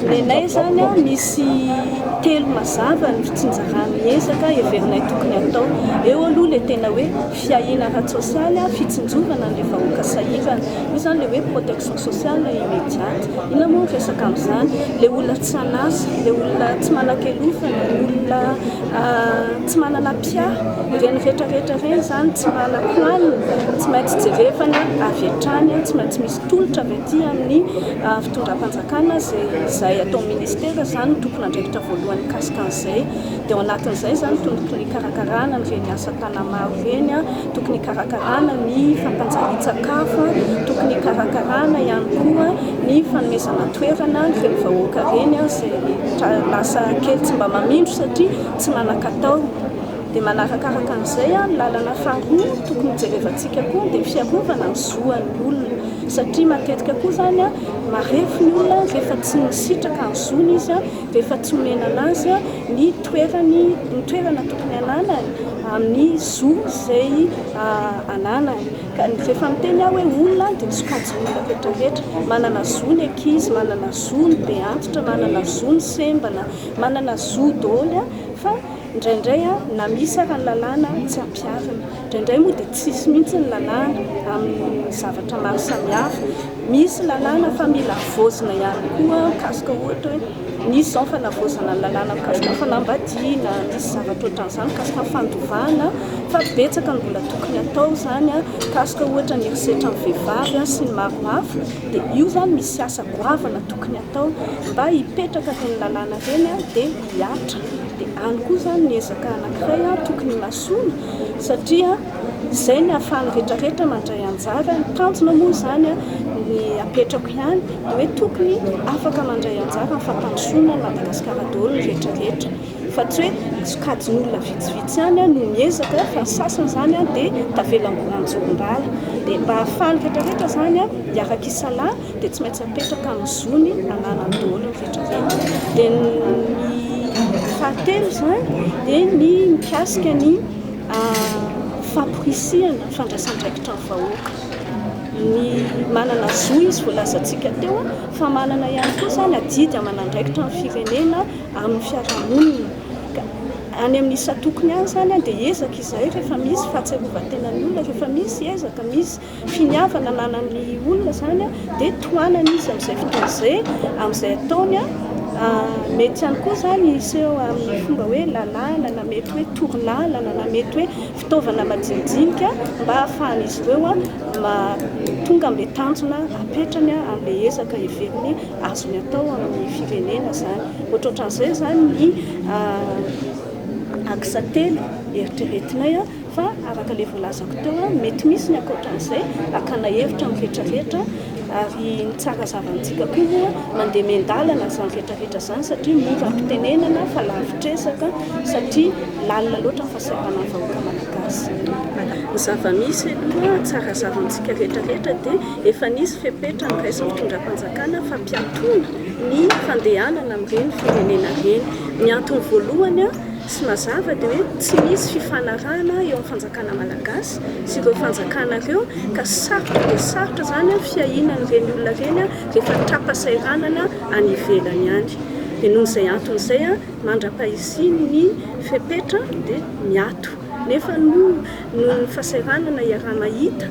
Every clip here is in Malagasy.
Nenay izany an, misy telo mazava ny fitsinjaran'ny ezaka heverinay tokony hatao. Eo aloha ilay tena hoe fiahiana ara-tsosialy, fitsinjovana an'ilay vahoaka sahirana. Io izany ilay hoe protection sociale immediate. Inona moa ny resaka amin'izany? Ilay olona tsy an'asa, ilay olona tsy manan-kelofa, ilay olona. Tsy manana mpiahy, ireny rehetra rehetra ireny izany tsy manako alina, tsy maintsy jerevana avy hatrany, tsy maintsy misy tolotra avy aty amin'ny fitondram-panjakana izay atao ministera izany no tompon'andraikitra voalohany mikasika an'izay, dia ao anatin'izay izany tokony hikarakarana ireny asa tanamaro ireny. Tokony hikarakarana ny fampanjarian-tsakafo, tokony hikarakarana ihany koa ny fanomezana toerana ireny vahoaka ireny izay lasa kely tsy mba mamindro satria tsy manan-katao. Dia manarakaraka an'izay, ny lalana faharoa tokony hojerevantsika koa dia ny fiarovana ny zo an'ny olona satria matetika koa izany marefo ny olona rehefa tsy nisitraka ny zony izy, rehefa tsy nomenana azy ny. toerany no toerana tokony ananany amin'ny zo izay ananany ka rehefa miteny aho hoe olona dia misokajy olona rehetra rehetra manana zo ny ankizy manana zo ny be antitra manana zo ny sembana manana zo daholo a fa indraindray a na misy ara ny lalàna tsy ampiharina indraindray moa dia tsisy mihitsy ny lalàna amin'ny zavatra maro samihafa misy lalàna fa mila havaozina ihany koa mikasika ohatra hoe Nisy izao ny fanavaozana ny lalàna mikasika ny fanambadiana, nisy zavatra ohatran'izany mikasika ny fandovana fa betsaka ny mbola tokony hatao izany mikasika ohatra ny herisetra amin'ny vehivavy sy ny maro hafa dia io izany misy asa goavana tokony hatao mba hipetraka ireny lalàna ireny dia hihatra dia any koa izany ny ezaka anankiray tokony himasoana satria izay ny ahafahan'ny rehetra rehetra mandray anjara, ny tanjona moa izany ny apetrako ihany dia hoe tokony afaka mandray anjara amin'ny fampandrosoana an'i Madagasikara daholo ny rehetra rehetra fa tsy hoe sokajin'olona vitsivitsy ihany no miezaka fa ny sasany izany dia tavela mbola an-jorom-bala dia mba ahafahan'ny rehetra rehetra izany hiaraka isalahy dia tsy maintsy apetraka amin'ny zony ananany daholo ny rehetra rehetra dia ny fahatelo izany dia ny mikasika ny Famporisihana fandraisandraikitra ny vahoaka. Ny manana zo izy voalazantsika teo fa manana ihany koa izany adidy aman'andraikitra ny firenena amin'ny fiarahamonina. Ka any amin'ny isan-tokony any izany dia ezaka izay rehefa misy fahatsiarovan-tenan'ny olona, rehefa misy ezaka, misy finiavana ananan'ny olona izany dia tohanany izy amin'izay fotoana izay amin'izay ataony mety ihany koa izany hiseho amin'ny fomba hoe lalàna na mety hoe torolalana na mety hoe fitaovana majinijinika mba hahafahan'izy ireo tonga amin'ilay tanjona apetrany amin'ilay ezaka heveriny azony atao amin'ny firenena izany ohatrohatran'izay izany ny axe telo eritreretinay Fa araka ilay voalazako teo, mety misy ny ankoatran'izay, akana hevitra amin'ny vetraveta, ary ny tsara zavantsika koa moa mandeha miandalana izany vetraveta izany satria mora ampitenenana fa lavitresaka satria lalina loatra ny fahasahiranan'ny vahoaka malagasy. Ny zavamisy aloha, tsara zavantsika rehetra rehetra dia efa nisy fepetra noraisin'ny fitondram-panjakana fa mpiatoana ny fandehanana amin'ireny firenena ireny. Ny antony voalohany, Tsy mazava dia hoe tsy misy fifanarahana eo amin'ny fanjakana malagasy sy ireo fanjakana ireo ka sarotra dia sarotra izany fiahiana an'ireny olona ireny rehefa tra-pasahiranana any ivelany any. Dia noho izay antony izay mandra-pahisian'ny fepetra dia miato. Nefa noho ny fasahiranana iaraha-mahita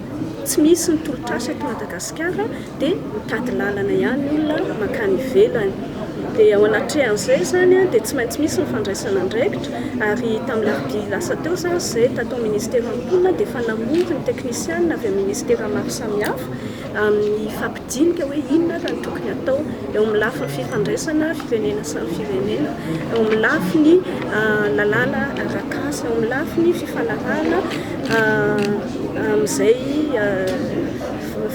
tsy misy ny tolotr'asa eto Madagasikara, dia mitady lalana ihany ny olona mankany ivelany dia ao anatrehan'izay izany dia tsy maintsy misy ny fandraisana andraikitra ary tamin'ny alarobia lasa teo izany izay tato ministera mponina dia efa namory ny teknisianina avy amin'ny ministera maro samihafa amin'ny fampidinika hoe inona ary ny tokony atao eo amin'ny lafiny fifandraisana firenena samy firenena eo amin'ny lafiny lalàna arakasa eo amin'ny lafiny fifanarahana amin'izay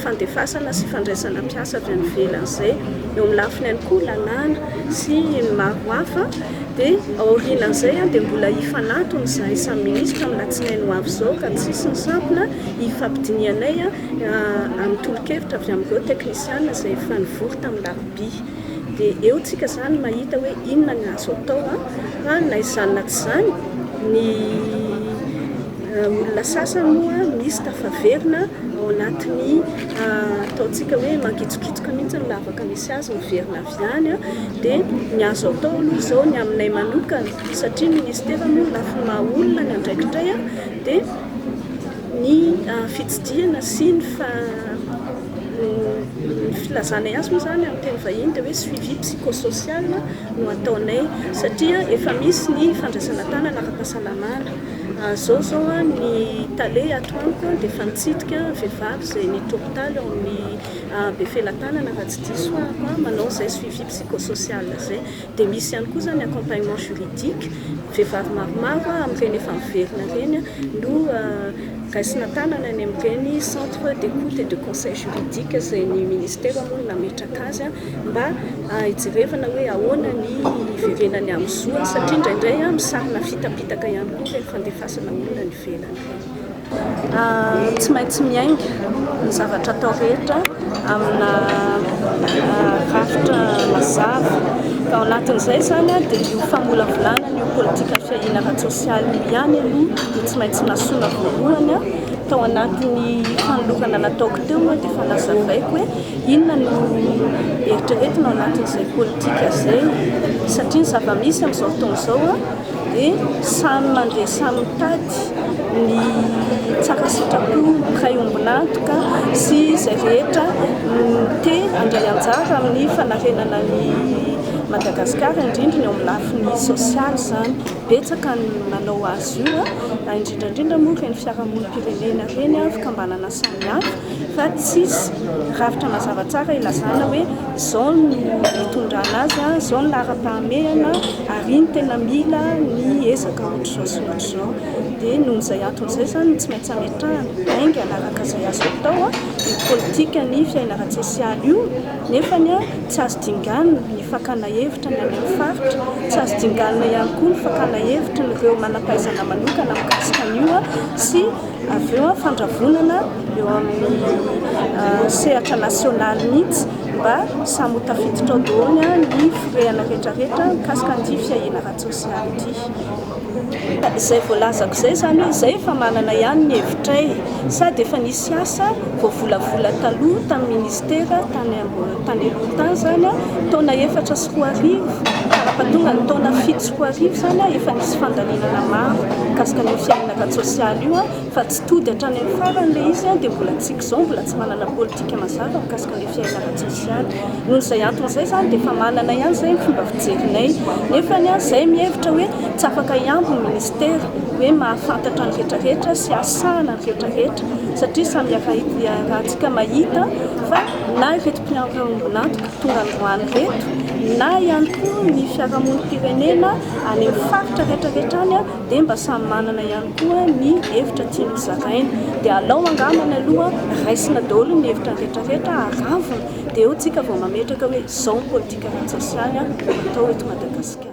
fandefasana sy fandraisana mpiasa avy any ivelany izay. Eo amin'ny lafiny ihany koa lalàna sy ny maro hafa dia aorianan'izay dia mbola hifanatona izahay samy minisitra amin'ny latsinainy ho avy izao ka tsy hisy ny sampona hifampidinihanay amin'ny tolo-kevitra avy amin'ireo teknisiana izay efa nivory tamin'ny larobia. Dia eo tsika izany mahita hoe inona ny azo atao fa na izany na tsy izany ny Olona sasany moa misy tafaverina ao anatin'ny ataontsika hoe mangitsokitsoka mihitsy ny lavaka misy azy, miverina avy any. Dia ny azo atao aloha izao ny aminay manokana, satria ny minisitera moa lafiny maha olona ny andraikitray, dia ny fitsidihana sy ny filazanay azy moa izany amin'ny teny vahiny dia hoe suivi psycho-social no ataonay, satria efa misy ny fandraisana tanana ara-pahasalamana. Zao zao an ny tale ato amiko an dia efa nitsidika vehivavy izay nit hopitaly ao amin'ny Befelatanana raha tsy diso ahako an, manao izay suivi psychosocial izay. Dia misy ihany koa izany accompagnement juridique, vehivavy maromaro an amin'ireny efa miverina ireny an no raisina tanana any amin'ireny centre d'écoute et de conseil juridique izay ny Ministera moa no nametraka azy an. mba hijerevana hoe ahoana ny hiverenany amin'ny zoany satria indraindray misahana fitapitaka ihany koa ilay fandefasana olona any ivelany ireny. Tsy maintsy miainga ny zavatra atao rehetra amina rafitra mazava. Ka ao anatin'izay izany dia io famolavolana ny politika fiahiana ara-tsosialy io ihany aloha no tsy maintsy nasoina voalohany tao anatin'ny fanolorana nataoko teo dia efa nazavaiko hoe Inona no eritreretina ao anatin'izay politika izay? Satria ny zava-misy amin'izao fotoana izao dia samy mandeha samy mitady ny tsara sitrapon'ny mpiray ombon'antoka sy izay rehetra te handray anjara amin'ny fanarenana an'i Madagasikara, indrindra ny ao amin'ny lafiny sosialy izany. Betsaka ny manao azy io, indrindra indrindra moa ireny fiarahamonim-pirenena ireny, fikambanana samihafa. fa tsisy rafitra mazava tsara ilazana hoe izao no hitondrana azy, izao ny laharam-pahamehana ary iny tena mila ny ezaka ohatr'izao sy ohatr'izao. Dia noho izay antony izay izany no tsy maintsy hametrahana haingana araka izay azo atao io politikan'ny fiainana ara-tsosialy io nefa tsy azo dinganina ny fakana hevitra ny any amin'ny faritra, tsy azo dinganina ihany koa ny fakana hevitry ireo manam-pahaizana manokana mikasika an'io sy. Avy eo fandravonana eo amin'ny sehatra nasionaly mihitsy mba samy ho tafiditra ao daholo ny firehana rehetrarehetra mikasika an'ity fiahiana ara-tsosialy ity. Izay voalazako izay izany hoe izay efa manana ihany ny hevitray sady efa nisy asa voavolavola taloha tamin'ny minisitera tany tany aloha tany izany taona efatra sy roa arivo ka raha tonga ny taona fito sy roa arivo izany efa nisy fandalinana maro mikasika ny fiahiana Data tsosialy io fa tsy tody hatrany amin'ny farany ilay izy dia mbola antsika izao mbola tsy manana politika mazava mikasika ny fiainana ara-tsosialy. Noho izay antony izay izany dia efa manana ihany izay ny fomba fijerinay nefa izay mihevitra hoe tsy afaka hihambo ny minisitera hoe mahafantatra ny rehetra rehetra sy hahasahana ny rehetra rehetra satria samy iarahantsika mahita fa na ireto mpiara-miombon'antoka tonga androany ireto na ihany koa ny fiarahamonim-pirenena any amin'ny faritra rehetra rehetra any dia mba samy manana ihany koa ny hevitra tiany zaraina dia alao angambany aloha raisina daholo ny hevitra rehetra rehetra aravona dia eo tsika vao mametraka hoe zao ny politika ara-tsosialy no atao eto Madagasikara.